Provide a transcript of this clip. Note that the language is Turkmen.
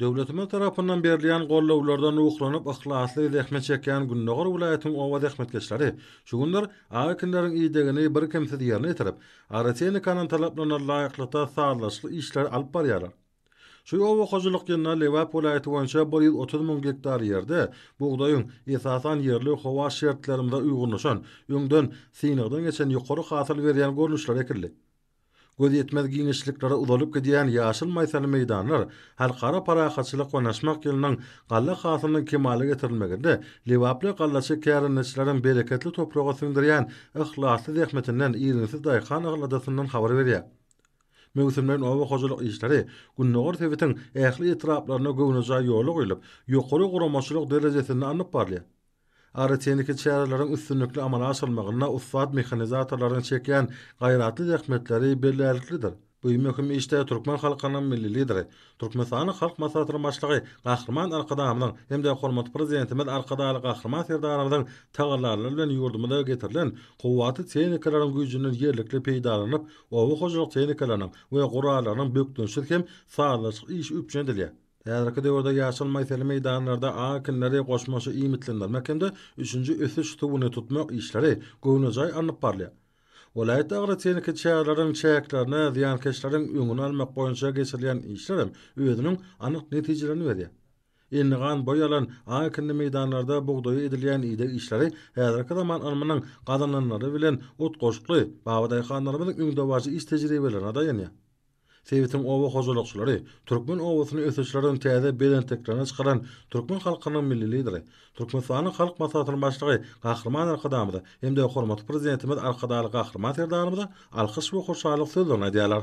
Döwletimiz tarapyndan berilýän gollawlardan ruhlanyp yhlasly zähmet çekýän Gündogar welaýatynyň oba zähmetkeşleri şu günler ak ekinleriň idegini birkemsiz ýerine ýetirip, agrotehnikanyň talaplaryna laýyklykda sazlaşykly işleri alyp barýarlar. Şu oba hojalyk ýylynda Lebap welaýaty boýunça bir ýüz otuz müň gektar ýerde bugdaýyň, esasan, ýerli howa şertlerimize uýgunlaşan, öňden synagdan geçen ýokary hasyl berýän görnüşleri ekildi. Göz ýetmez giňişliklere uzalyp gidýän ýaşyl maýsaly meýdanlar Halkara parahatçylyk we naşmak ýylynyň galla hasylynyň kemala getirilmeginde lebaply gallaçy kärendeçileriň bereketli topraga siňdirýän yhlasly zähmetinden irginsiz daýhan aladasyndan habar berýär. Möwsümleýin oba hojalyk işleri Gündogar sebitiň ähli etraplarynda göwnejaý ýola guýlup, ýokary guramaçylyk derejesinde alnyp barylýar. Agrotehniki çäreleriň üstünlikli amala aşyrylmagynda ussat mehanizatorlaryň çekýän gaýratly zähmetleri bellärliklidir. Bu möhüm işde türkmen halkynyň Milli Lideri, Türkmenistanyň Halk Maslahatynyň Başlygy Gahryman Arkadagymyzyň hem-de hormatly Prezidentimiz Arkadagly Gahryman Serdarymyzyň tagallalary bilen ýurdumyza getirilen kuwwatly tehnikalaryň güýjünden ýerlikli peýdalanylyp, oba hojalyk tehnikalarynyň we gurallarynyň bökdençsiz hem sazlaşykly işi üpjün edilýär. Häzirki döwürde ýaşyl maýseli meýdanlarda aň ekinleri, goşmaça iýmitlendirmek hem-de üçünji ösüş suwuny tutmak işleri göwnejaý alnyp barylýar. Welaýatda agrotehniki çäreleriň çäklerine zyýankeşleriň öňüni almak boýunça geçirilýän işlerem özüniň anyk netijelerini berýär. Enli gan boý alan aň ekinli meýdanlarda bugdaýa edilýän ideg işleri häzirki zaman ylmynyň gazananlary bilen utgaşykly, babadaýhanlarymyzyň öňdebaryjy iş tejribelerine daýanýar. Sebitiň oba hojalykçylary türkmen obasyny ösüşlerden täze belentliklerine çykaran türkmen halkynyň Milli Lideri, Türkmenistanyň Halk Maslahatynyň Başlygy Gahryman Arkadagymyza hem-de hormatly Prezidentimiz Arkadagly Gahryman Serdarymyza alkyş we hoşallyk sözlerini aýdýarlar.